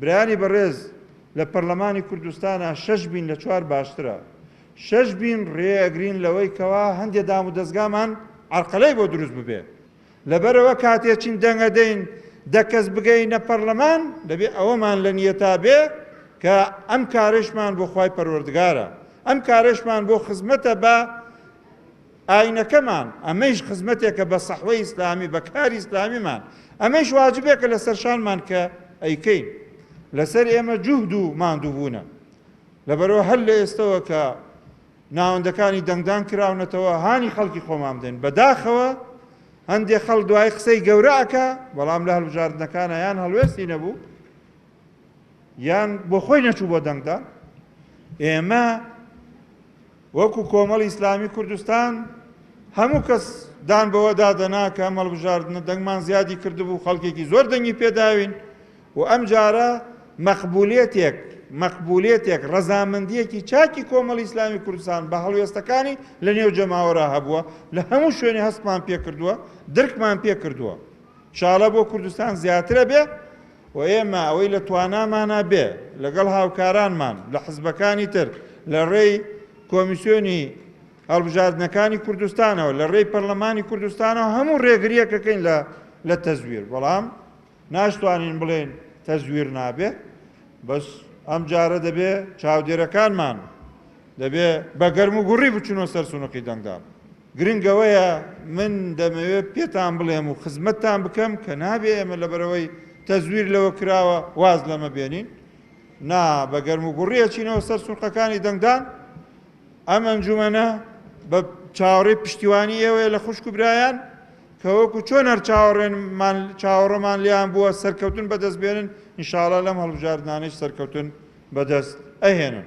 برایانی بەڕێز لە پەرلەمانی کوردستانا شەش بین لە چوار باشترە شەش بین ڕێ ئەگرین لەوەی کەوا هەندێ دام و دەزگامان عەرقەلەی بۆ دروست ببێ لەبەرەوە کاتێ چین دەنگە دەین دە کەس بگەینە پەرلەمان دەبێ ئەوەمان لە نیەتا بێ کە ئەم کارشمان بۆ خوای پەروەردگارە ئەم کارشمان بۆ خزمەتە بە ئاینەکەمان، ئەمەیش خزمەتێکە بە سەحوەی ئیسلامی، بە کاری ئیسلامیمان، ئەمەیش واجبێکە لەسەر شانمان کە ئەیکەین، لەسەر ئێمە جوهد و ماندووبوونە، لەبەرئەوە هەر لە ئێستەوە کە ناوەندەکانی دەنگدان کراونەتەوە هانی خەڵکی خۆمان بدەین، بەداخەوە هەندێ خەڵک دوایی قسەی گەورە ئەکا، بەڵام لە هەڵبژاردنەکانا یان هەڵوێستی نەبوو، یان بۆ خۆی نەچوو بۆ دەنگدان، ئێمە، وەکو کۆمەڵی ئیسلامی کوردستان هەموو کەس دان بەوەدا دەنا کە ئەم هەڵبژاردنە دەنگمان زیادی کردبوو، خەڵکێکی زۆر دەنگی پێداوین و ئەمجارە مەقبولیەتێک مەقبولیەتێک ڕەزامەندیەکی چاکی کۆمەڵی ئیسلامی کوردستان بە هەڵوێستەکانی لە نێو جەماوەرا هەبووە لە هەموو شوێنێ هەستمان پێکردووە درکمان پێکردووە. شاڵە بۆ کوردستان زیاترە بێ. و ئێمە ئەوەی لە توانامانە بێ لەگەڵ هاوکارانمان لە حزبەکانی تر لە رێی کۆمیسیۆنی هەڵبژاردنەکانی کوردستانەوە لە رێی پەرلەمانی کوردستانەوە هەموو رێگریەک دەکەین لە لە تەزویر بەڵام ناشتوانین بڵێن تەزویر نابێ بەس ئەم جارە دەبێ چاودێرەکانمان دەبێ بە گەرم و گوڕی بچنەوە سەر سونقی دەنگدان گرنگ ئەوەیە من دەمەوێت پێتان بڵێم و خزمەتتان بکەم کە نابێ ئێمە لەبەرئەوەی تەزویر لەوە کراوە واز لەمە بێنین، نا بە گەرموگوڕی ئەچینەوە سەر سونقەکانی دەنگدان، ئەم ئەنجومەنە بە چاوەڕێی پشتیوانی ئێوەیە لە خوشک و برایان کە وەکو چۆن هەر چاوەڕێنمان چاوەڕێمان لێیان بووە سەرکەوتن بەدەست بێنن، ان شاء اللە لەم هەڵبژاردنانەیش سەرکەوتن بەدەست ئەهێنن.